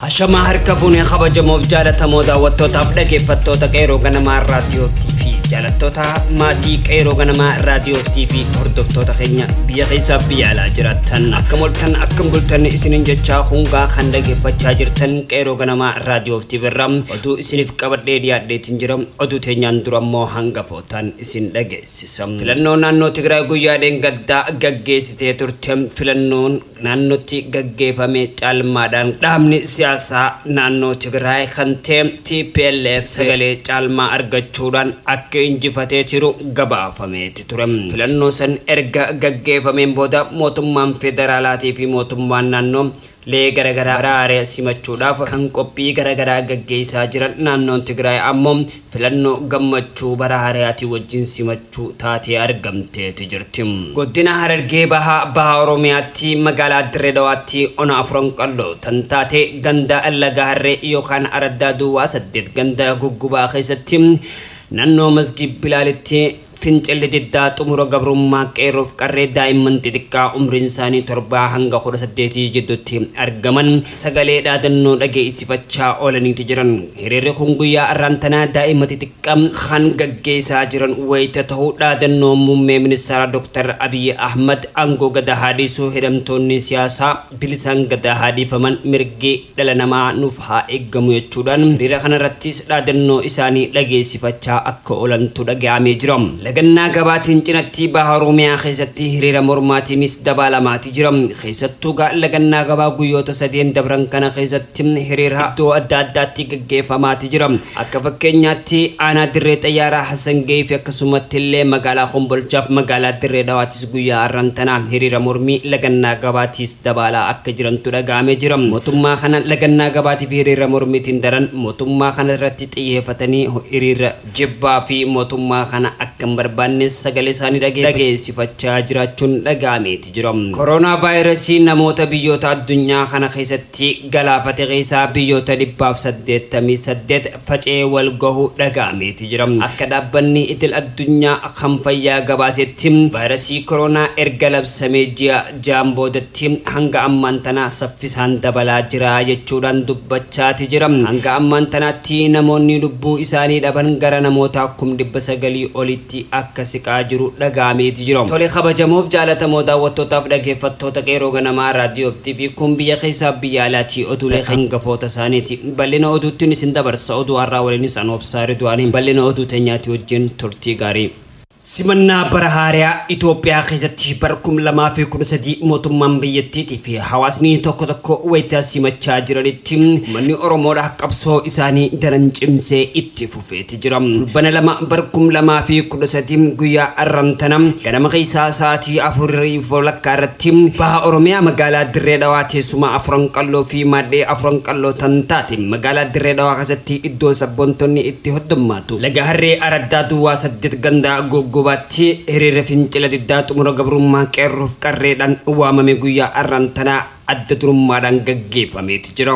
Ashamaa harka fuune kabajamoof jaalatamoo daawwattootaaf dhageeffattoota Qeeroo Ganamaa Raadiyoo TV jaalattoota maatii Qeeroo Ganamaa Raadiyoo TV hordoftoota keenya biyya keessaa biyya alaa jiraattan akkam oltan akkam bultan isinin jechaa hungaa kan dhageeffachaa jirtan Qeeroo Ganamaa Raadiyoo TV irraa oduu isiniif qabadhee dhiyaadheetiin jira oduu teenyaan dura immoo hangafootaan isin dhageessisa filannoo naannoo Tigraay guyyaa dheengaddaa gaggeessitee turte filannoon naannootti gaggeefame caalmaadhaan dhaabni siyaasaa naannoo Tigraay kan ta'e tplf sagalee caalmaa argachuudhaan akka injifatee jiru gabaafameeti ture. Filannoo san erga gaggeefameen booda mootummaan federaalaatii fi mootummaan naannoo lee garagaraa araare simachuudhaaf kan qophii garagaraa gaggeessaa jiran naannoon Tigraay ammoo Filannoo gammachuu bara haarayaatii wajjin simachuu taatee argamteeti jirti. Godina Harargee Bahaa Baha Oromiyaatti magaalaa Dirree Dawaatti ona Afuran Qalloo tan taate ganda Laga Harree yookaan Araddaa Duwwaa 8 ganda Guggubaa keessatti nannoo Masgiid Bilaalitti Fincilli diddaa xumura gabrummaa qeerroof qarree daa'imman xixiqqaa umriin isaanii torbaa hanga kudha saddeetii jidduutti argaman sagalee dhaadannoo dhageessifachaa oolaniiti jiran. Hiriirri kun guyyaa arraan tanaa daa'ima xixiqqa kan gaggeesaa jiran wayita tahu dhaadannoo muummee ministaaraa Dr. Abiy Ahmad aangoo Gadaa haa dhiisu, hidhamtoonni siyaasaa bilisaan Gadaa haa dhiifaman, mirgi. dhala namaa nuuf haa eeggamu jechuudhaan hiriira kanarrattis dhaadannoo isaanii dhageessifachaa akka oolantu dhaga'amee jira. Lagannaa gabaatiin cinatti Baha Oromiyaa keessatti hiriira mormaatiinis dabaalamaati jira. Keessattuu egaa lagannaa gabaa guyyoota sadeen dabran kana keessatti hiriira iddoo adda addaatti gaggeeffamaati jira. Akka fakkeenyaatti aanaa Dirree Xayyaaraa Hassan Gayiifi akkasumattillee magaalaa Kombolchaaf magaalaa Dirree Dhawaatis guyyaa arran tanaa hiriira mormii lagannaa gabaatiis dabaalaa akka jirantu dhaga'amee jira. Motummaa kana lagannaa gabaatiifi hiriira mormiitiin daran motummaa kana irratti xiyyeefatanii hiriira jibbaa fi motummaa kana akka hin barbaannes sagalee isaanii dhageessifachaa jiraachuun dhaga'ameeti. jira. Koronaavaayirasiin namoota biyyoota addunyaa kana keessatti galaafate keessaa biyyoota 188 faca'ee wal gahu dhaga'ameeti jira. Akka dhaabbanni idil addunyaa kan fayyaa gabaasetti vaayirasii koroonaa erga labsamee ji'a ja'an boodatti hanga ammaan tana saffisaan dabalaa jira jechuudhaan dubbachaati jira. Hanga ammaan tanaatti namoonni lubbuu isaanii dhaban gara namoota kum 900 oliitti akka siqaa jiru dhaga'ameeti jira. Tole kabajamoof jaalatamoo daawwattootaaf dhageeffattoota Qeerroo Ganamaa Raadiyoo fi TV kun biyya keessaaf biyya alaatii oduulee hangafoota isaaniiti. Bal'ina oduuttin isin dabarsa. Oduu har'aa waliinis an Obsaa Ridwaani. Bal'ina oduu teenyaati wajjin turtii gaarii. Simannaa bara haarayaa Itoophiyaa keessatti bara 2013 mootummaan biyyattiitii fi hawaasni tokko tokko wayita simachaa jiranitti uummanni Oromoodha qabsoo isaanii daran cimsee itti fufe. feeti jira. Fulbana 2 bar 2013 guyyaa arran tana ganama keessaa sa'aatii 4:30 irratti baha Oromiyaa magaalaa Dirree Dhawaa teessuma Afuran Qalloo fi maadhee Afuran Qalloo tan taate magaalaa Dirree Dhawaa keessatti iddoo sabboontonni itti hoddummaatu Laga Harree araddaa duwwaa 8 ganda Googgobaatti hiriirri fincila diddaa xumura gabrummaa qeerroof qarreedhaan waamame guyyaa arran tana adda durummaadhaan gaggeeffameeti jira.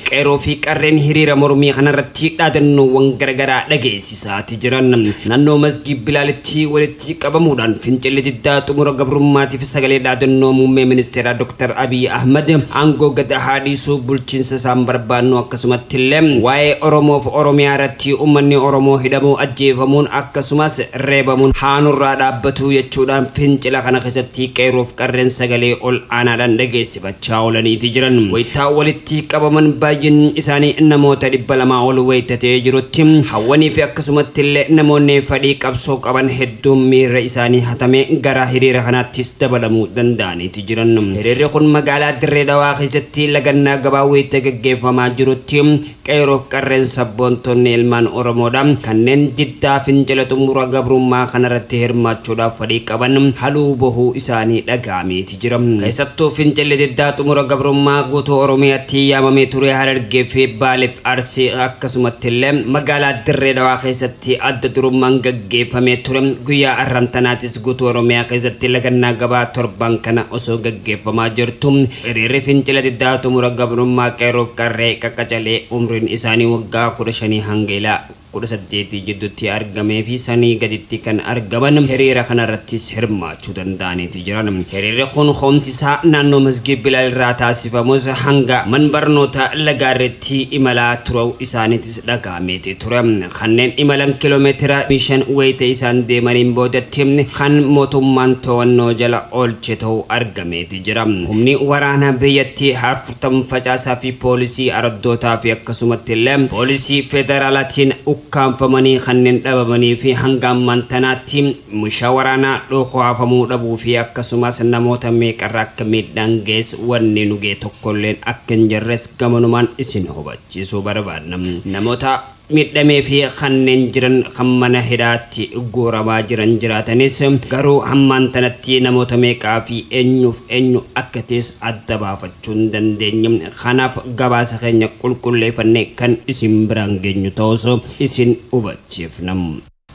Qeerroo fi Qarreen hiriira mormii kanarratti dhaadannoowwan garagaraa dhageessisaati jiran. Nannoo Masgiid Bilaalitti walitti qabamuudhaan fincilli diddaa xumura gabrummaatiif sagalee dhaadannoo Muummee Ministeeraa Dr. Abiy Ahmad aangoo gad haa dhiisu, bulchiinsa isaa hin barbaannu akkasumattillee waa'ee Oromoof Oromiyaa irratti ummanni Oromoo hidhamuu, ajjeefamuun akkasumas reebamuun haa nurraa dhaabbatu jechuudhaan fincila kana keessatti Qeerroo qarreen sagalee ol aanaadhaan dhageessifachaa oolaniiti jiran. Wayita walitti qabaman baay'inni isaanii namoota 200 ol wayita ta'ee jirutti hawwaniifi akkasumattillee namoonni fadhii qabsoo qaban hedduun miirra isaanii hatamee gara hiriira kanaattis dabalamuu danda'aniiti jiran. Hiriirri kun magaalaa Dirree Dhawaa keessatti lagannaa gabaa wayita gaggeeffamaa jirutti Qeeroof qarreen sabboontonni ilmaan Oromoodha. Kanneen diddaa fincila xumura gabrummaa kanarratti hirmaachuudhaaf fadhii qaban haluu bohuu isaanii dhaga'ameeti jira. Keessattuu fincilli diddaa xumura gabrummaa guutuu Oromiyaatti yaamamee ture Harargee fi Baaleef Arsii akkasumattillee magaalaa Dirree Dhawaa keessatti adda durummaan geeffamee ture. Guyyaa arran tanaatis guutuu Oromiyaa keessatti lagannaa gabaa torban kana osoo gaggeeffamaa jirtuu hiriirri fincila diddaa xumura gabrummaa qeerroof qarree qaqqacalee umriin isaanii waggaa 15 hanga ila 18 jiddutti argamee fi sanii gaditti kan argaman hiriira kana irrattis hirmaachuu danda'aniiti jiran. Hiriirri kun koomsi isaa naannoo Masgiid Bilaal irraa taasifamus hanga man barnootaa Lagaarreetti imalaa turau isaaniitis dhaga'ama. miti ture. Kanneen imalan kilomeetira 25 wayita isaan deemaniin boodatti kan mootummaan to'annoo jala oolche ta'uu argameeti jira. Humni waraanaa biyyattii haarftam facaasaa fi poolisii araddootaa fi akkasumatti illee poolisii federaalaatiin ukkaamfamanii kanneen dhabamanii fi hanga ammaan tanaatti mishaa waraanaa dhookohaafamuu dhabuu fi akkasumas namoota meeqarra akka miidhaan gahes wanni nu gahe tokkolleen akka hin jirres gamanumaan isin hubachiisa. cisuu barbaadna. Namoota miidhamee fi kanneen jiran kan mana hidhaatti guuramaa jiran jiraatanis garuu hammaan tanatti namoota meeqaa fi eenyuuf eenyu akka ta'es adda baafachuu hin dandeenye. Kanaaf gabaasa keenya qulqulleefannee kan isin biraan geenyu ta'uus isin hubachiifna.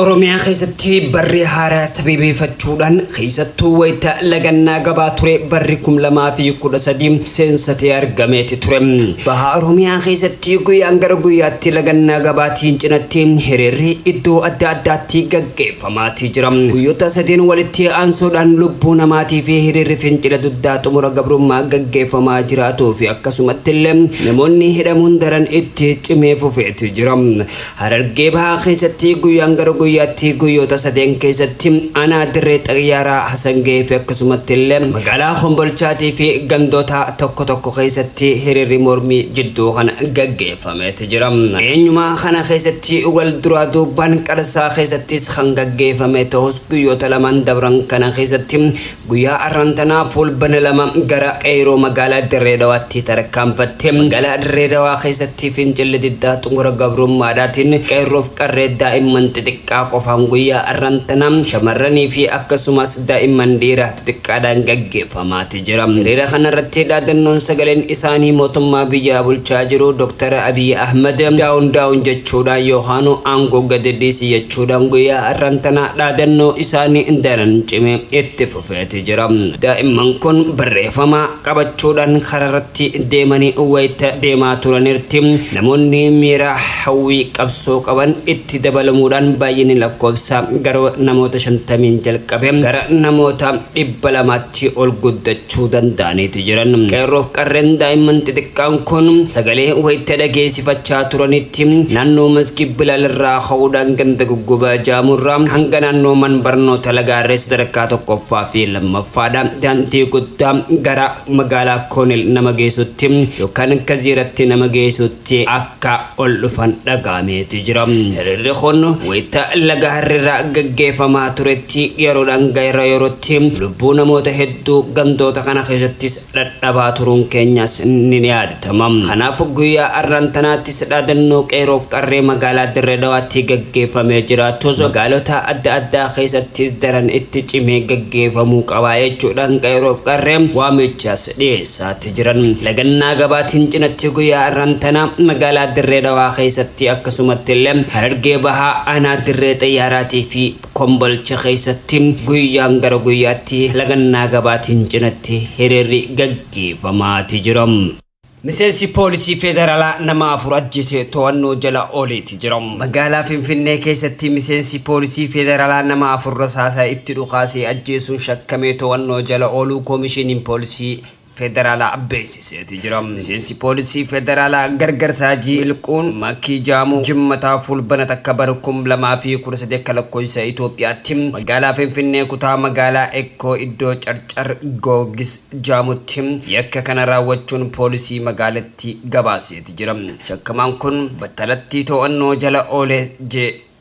Oromiyaa keessatti barri haaraa sabebeefachuudhaan keessattuu wayita lagannaa gabaa ture barri 2013 seensatee argameeti ture. Baha Oromiyaa keessatti guyyaan gara guyyaatti lagannaa gabaatiin cinatti hiriirri iddoo adda addaatti gaggeeffamaatii jira. Guyyoota sadeen walitti aansuudhaan lubbuu namaatii fi hiriirri fincila duddaa xumura gabrummaa gaggeeffamaa jiraatuu fi akkasumatti illee namoonni hidhamuun daran itti cimee fufeeti jira. Harargee Bahaa keessatti guyyaan gara guyyaatti guyyoota sadeen keessatti aanaa dirree xayyaaraa Hasangee fi akkasumatti illee magaalaa Kombolchaatii fi gandoota tokko tokko keessatti hiriirri mormii jidduu kana gaggeeffameeti jira. Eenyumaa kana keessatti wal duraa duubaan qarsaa keessattis kan gaggeeffame ta'us guyyoota lamaan dabran kana keessatti Guyyaa arran tanaa Fulbana 2 gara Qeeyroo magaalaa Dirree Dawaatti tarkaanfatte. Magaalaa Dirree Dawaa keessatti fincilli diddaa xumura gabrummaadhaatiin Qeerroof Qarree daa'imman xixiqqaa qofaan guyyaa arran tanaa shamarranii fi akkasumas daa'imman dhiiraa xixiqqaadhaan gaggeeffamaati jira. Hiriira kana irratti dhaadannoon sagaleen isaanii mootummaa biyyaa bulchaa jiru Dr. Abiy Ahmed down down jechuudhaan yookaanuu aangoo gadi dhiisi jechuudhaan guyyaa arran tanaa dhaadannoo isaanii daran cime. Itti fufeeti jira. Daa'imman kun barreefama qabachuudhaan karaarratti deemanii wayita deemaa turaniirtti namoonni miira hawwii qabsoo qaban itti dabalamuudhaan baay'inni lakkoofsaa garuu namoota 50n jalqabe gara namoota 200tti ol guddachuu danda'aniiti jiru. jiran qeerroof qarreen daa'imman xixiqqaan kun sagalee wayita dhageessifachaa turanitti naannoo Masgiid Bilaal irraa ka'uudhaan ganda Goggobaa Jaamuu irraa hanga naannoo man barnoota Lagaarree sadarkaa tokkoffaa fi lammaffaadha daandii guddaa gara magaalaa Koonil nama geessutti yookaan Kaziiratti nama geessutti akka ol dhufan dhaga'ameeti jira. Hiriirri kun wayita Lagaarree irraa gaggeeffamaa turetti yeroodhaan gara yerootti lubbuu namoota hedduu Hedduu gandoota kana keessattis dhadhabaa turuun keenyas ni yaadatama. Kanaaf guyyaa har'aan tanaattis dhaadannoo Qeerroof Qarree magaalaa Dirree Dhawaatti gaggeeffamee jiraatus magaalota adda addaa keessattis daran itti cimee gaggeeffamuu qaba jechuudhaan Qeerroof Qarreen waamichas dhiyeessaati jiran. Lagannaa gabaatiin cinatti guyyaa har'aan tana magaalaa Dirree Dhawaa keessatti akkasumattillee Harargee Bahaa aanaa Dirree Xiyyaaraatii fi Kombolcha keessatti guyyaan gara guyyaatti lagannaa gabaatiin cinatti hiriirri gaggeefamaati jira. Miseensi poolisii federaalaa nama afur ajjeese to'annoo jala ooleeti jira. Magaalaa Finfinnee keessatti miseensi poolisii federaalaa nama afur rasaasa itti dhukaasee ajjeesuun shakkamee to'annoo jala ooluu Koomishiniin Poolisii federaalaa beeksiseeti jira. Miseensi poolisii federaalaa Gargarsa Hajii Milquun Makkii Jaamuu Jimmataa Fulbana takka bara 2013 akka lakkoofsa Itoophiyaatti magaalaa Finfinnee kutaa magaalaa Ekkoo iddoo Carcar Goorgis Jaamutti yakka kana raawwachuun poolisii magaalattii gabaaseeti jira. Shakkamaan kun battalatti to'annoo jala oole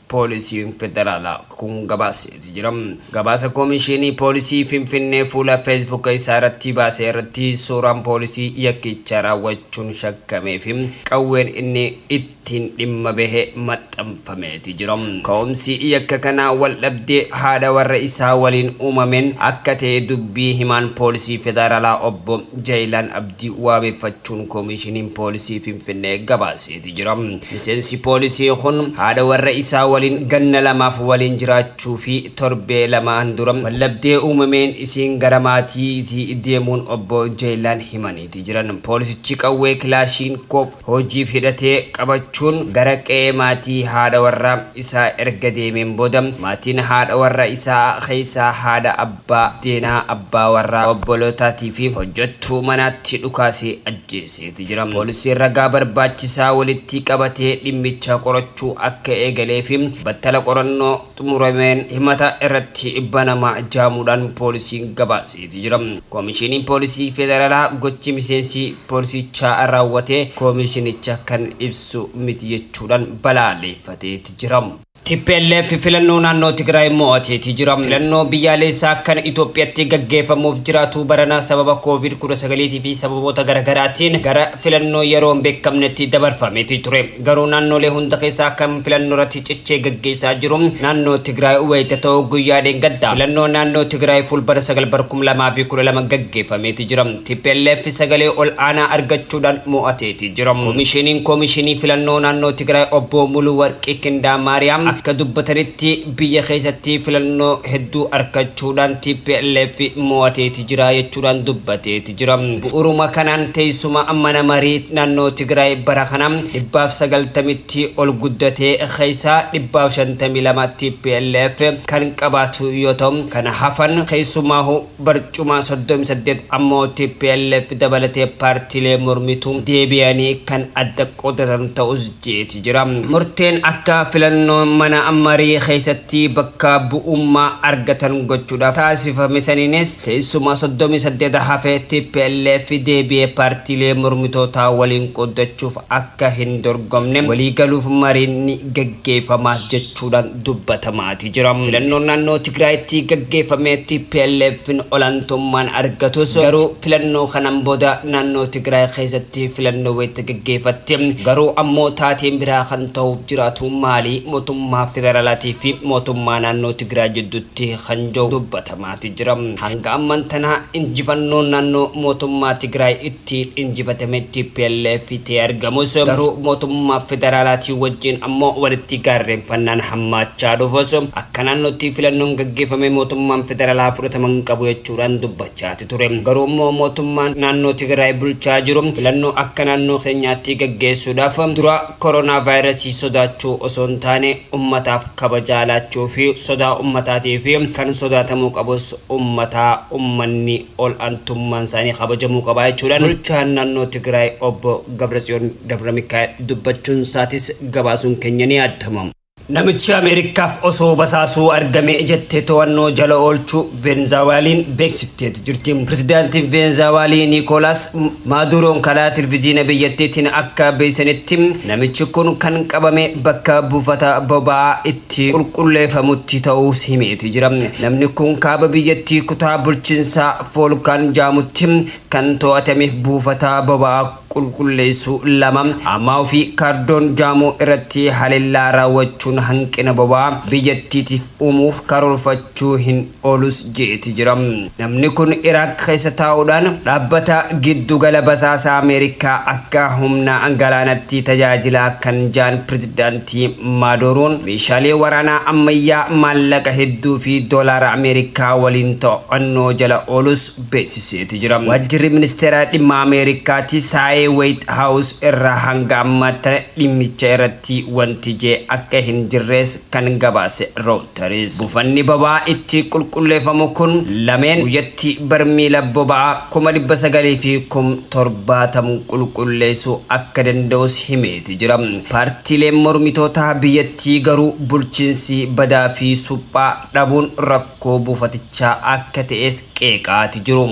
Poolisiin Federaalaa kun gabaaseeti jira. Gabaasa Komishiinii Poolisii Finfinnee fuula Facebook isaa irratti baase irratti suuraan poolisii yakkicha raawwachuun shakkamee fi qawween inni ittiin dhimma bahe maxxanfameeti jira. Ka'umsi yakka kanaa waldhabdee haadha warra isaa waliin uumameen akka ta'e dubbii himaan Poolisii Federaalaa Obbo Jayilaan Abdii waabeffachuun Komishiiniin Poolisii Finfinnee gabaaseeti jira. jira. Miseensi poolisii kun haadha warra isaa waliin ganna lamaaf waliin jiraachuu fi torbee lamaan dura waldhabdee uumameen isiin gara maatii isii deemuun obbo Jeeylaan himaniiti jiran. Poolisichi qawwee Kilaashiinkoov hojiif hidhatee qabachuun gara qe'ee maatii haadha warraa isaa erga deemeen booda maatiin haadha warra isaa keessaa haadha, abbaa, deenaa, abbaa warraa, obbolootaati fi hojjattuu manaatti dhukaasee ajjeese. itti jira. Poolisiin ragaa barbaachisaa walittii qabatee dhimmicha qorachuu akka eegalee fi battala qorannoo xumurameen himata irratti banama jaamuudhaan poolisiin gabaaseeti jira. Koomishiniin Poolisii Federalaa gochi miseensi poolisiichaa raawwate koomishinicha kan ibsu miti jechuudhaan balaaleeffateeti jira. Tplf filannoo naannoo Tigraay mo'ateeti jira. Filannoo biyyaaleessaa kan Itoophiyatti gaggeeffamuuf jiraatu barana sababa Covid 19 fi sababoota garagaraatiin gara filannoo yeroo hin beekamnetti dabarfameeti ture. Garuu naannoolee hunda keessaa kan filannoorratti cichee gaggeessaa jiru naannoo Tigraay wayita ta'u guyyaa dheengaddaa filannoo naannoo Tigraay Fulbana 9 bara 2012 gaggeeffameeti jira. Tplf sagalee ol'aanaa argachuudhaan mo'ateeti jira. Komishiniin Komishinii Filannoo Naannoo Tigraay Obbo Muluwarqi Kindamaariyaam akka dubbatanitti, biyya keessatti filannoo hedduu arkachuudhaan tplf mo'ateeti jira jechuudhaan dubbateeti jira. Bu'uruma kanaan teessuma mana marii naannoo Tigraay bara kana dhibbaaf 90tti ol guddatee keessaa dhibbaaf 52 tplf kan qabaatu yoo ta'u, kan hafan keessumaahu, Barcumaa 38 ammoo tplf dabalatee paartiilee mormituu deebi'anii kan adda qoodatan ta'us jeeti jira. Murteen akka filannoon mana marii keessatti bakka bu'ummaa argatan gochuudhaaf taasifame saniinis teessuma 38 hafe tplf deebi'ee paartiilee mormitootaa waliin qooddachuuf akka hin dorgomne waliigaluuf mariin ni gaggeeffama jechuudhaan dubbatamaati jira. Filannoon naannoo Tigraayitti gaggeeffame TPLFn olaantummaan argatus garuu filannoo kanaan booda naannoo Tigraay keessatti filannoo wayita gaggeefatti garuu ammoo taateen biraa kan tahuuf jiraatu maali mootummaa federaalaatii fi mootummaa naannoo Tigraay jidduutti kan jedhu dubbatama. maatu jira. Hanga amman tana injifannoon naannoo mootummaa Tigraay ittiin injifatame tplf ta'ee argamus, garuu mootummaa federaalaatii wajjin ammoo walitti gaarreenfannaan hammaachaa dhufus, akka naannootti filannoon gaggeeffame mootummaan federaalaa fudhatama hin qabu jechuudhaan dubbachaati ture. Garuu immoo mootummaan naannoo Tigraay bulchaa jiru filannoo akka naannoo keenyaatti gaggeessuudhaaf dura koronaavaayirasii sodaachuu osoo hin taane ummataaf kabajaa laachuu fi sodaa ummataatii fi kan sodaatamuu qabus ummataa, ummanni ol antummaan isaanii kabajamuu qaba jechuudhaan bulchaan naannoo Tigraay Obbo Gabratsiyoon Dabramikaa'el dubbachuun isaatis gabaasuun keenya ni yaadatama. Namichi Ameerikkaaf osoo basaasuu argame jettee to'annoo jala oolchuu Veenzaawaalin beeksifteeti jirti. Pirezidaantiin Veenzaawaalii Niikoolaas Maaduuroon karaa televizyiina biyyattiitiin akka beeksisanitti namichi kun kan qabame bakka buufata boba'aa itti qulqulleefamutti ta'uus himeeti jira. Namni kun kaaba biyyattii kutaa bulchiinsaa Foolkaan jaamutti kan to'atameef buufata boba'aa qulqulleessuu 2. Ammaa fi Kaardoon Jaamoo irratti halellaa raawwachuun hanqina boba'aa biyyattiitiif uumuuf karoorfachuu hin oolus jeeti jira. Namni kun Iraaq keessa taa'uudhaan dhaabbata giddu gala basaasaa Ameerikaa akka humna galaanatti tajaajilaa kan jaan Pirezidaantii Maadooroon meeshaalee waraanaa ammayyaa maallaqa hedduu fi doolaara Ameerikaa waliin to'annoo jala oolus beeksiseeti jira. Waajjirri Ministeera Dhimma Ameerikaati saayee Wayit Haawus irraa hanga ammaattana dhimmicha irratti wanti jee akka hin jirrees kan gabaase Rooyters, buufanni boba'aa itti qulqulleefamu kun lameen guyyatti barmiila boba'aa kuma 900 fi kum 70 qulqulleesuu akka danda'us himeeti jira. Paartiileen mormitootaa biyyattii garuu bulchiinsi badaa fi suphaa dhabuun rakkoo. rakkoo buufatichaa akka ta'es qeeqaati jiru.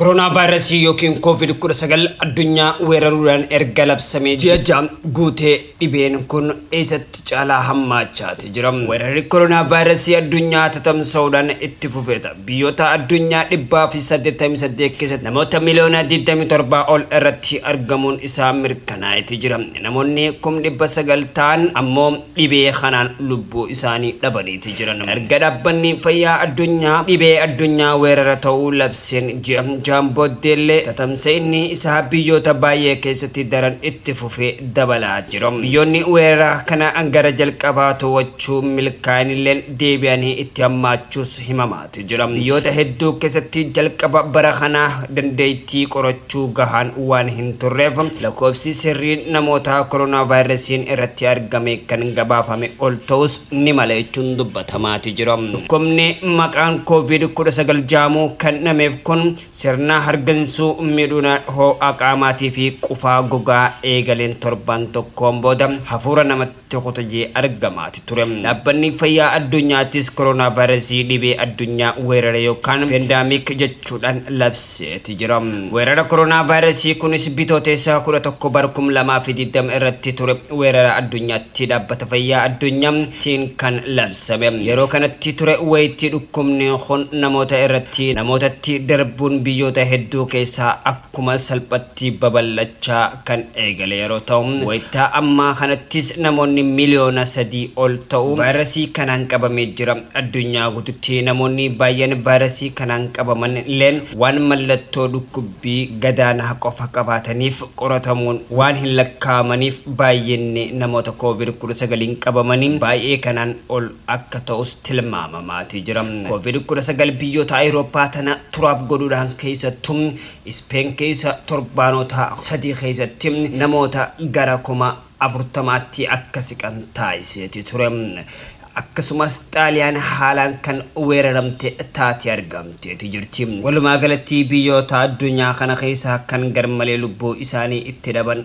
Koronaavaayirasii ykn Koovid 19 addunyaa weeraruudhaan erga labsamee ji'a 6 guutee dhibeen kun eessatti caalaa hammaachaati jira. Weerarri koronaavaayirasii addunyaa tatamsa'uudhaan itti fufeeta. Biyyoota addunyaa 188 keessatti namoota miliyoona 27 ol irratti argamuun isaa mirkanaa'eeti jira. Namoonni kum 900 ta'an ammoo dhibee kanaan lubbuu isaanii dhabaniiti jiran. Erga Dhaabbanni Fayyaa Addunyaa dhibee addunyaa weerara ta'uu labseen ji'a ja'an booddeellee tatamsa'inni isaa biyyoota baay'ee keessatti daran itti fufee dabalaa jira. Biyyoonni weerara kana gara jalqabaa to'achuu milkaa'anilleen deebi'anii itti hammaachuus himama. tu jira. Biyyoota hedduu keessatti jalqaba bara kanaa dandeettii qorachuu gahaan waan hin turreef lakkoofsi sirriin namoota koronaavaayirasiin irratti argame kan gabaafame ol ta'uus ni mala jechuun dubbatamaa ti jira. Dhukkubni maqaan Kooviid 19 ja'amu kennamef kun sirna hargansuu, miidhuna hoo'a qaamaatii fi qufaa gogaa eegaleen torbaan tokkoon booda hafuura namatti. tokko ta'ee argamaati ture. Dhaabbanni Fayyaa Addunyaattis koronaavaayirasii dhibee addunyaa weerare yookaan Pandemic jechuudhaan labseeti jira. Weerara koronaavaayirasii kunis Bitootessa kudha tokko bara kuma lamaa fi digdama irratti ture weerara addunyaatti Dhaabbata Fayyaa Addunyaa tiin kan labsame. Yeroo kanatti ture wayitii dhukkubni kun namoota irratti namootatti darbuun biyyoota hedduu keessaa akka akkuma salphatti babal'achaa kan eegale yeroo ta'u, wayita ammaa kanattis namoonni miliyoona sadii ol ta'u vaayirasii kanaan qabamee jira. Addunyaa guututti namoonni baay'een vaayirasii kanaan qabaman illeen waan mallattoo dhukkubbii gadaanaa qofa qabaataniif qoratamuun waan hin lakkaa'amaniif baay'inni namoota Covid 19n qabamanii baay'ee kanaan ol akka ta'us tilmaamamaatii jira. Covid 19 biyyoota Ayirooppaa tana turaaf godhuudhaan keessattu Ispeen keessa torbaanota sadii keessatti namoota gara kuma 40tti akka siqan taasiseeti ture. Akkasumas Xaaliyaan haalaan kan weeraramte taate argamteeti jirti. Walumaa galatti biyyoota addunyaa kana keessaa kan garmalee lubbuu isaanii itti dhaban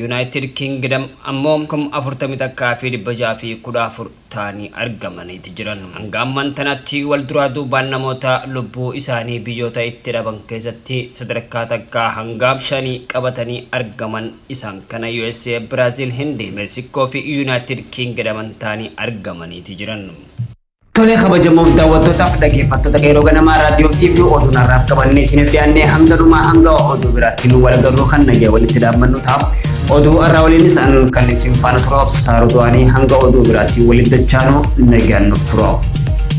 Yunaayitid Kingidam ammoo 41,614 ta'anii argamaniiti jiran. Hanga amman tanatti wal duraa duubaan namoota lubbuu isaanii biyyoota itti dhaban keessatti sadarkaa takkaa hanga shanii qabatanii argaman isaan kana usa, Biraazil, Hindi, Meeksikkoo fi Yunaayitid Kingidaman ta'anii argamaniiti jiran. Tolee kabajamoof daawwattootaaf dhaggeeffattoota qeerroo ganamaa raadiyoo TV oduun har'aaf qabannee isiniif dhiyaannee hanga dhumaa hanga oduu biraatti nu wal garruu kan nagee walitti dhaabbannu ta'a. Oduu har'aa waliinis an kan isin faana turuuf saarutuwaanii hanga oduu biraatti walitti dachaanu nagaan nuuf turuuf.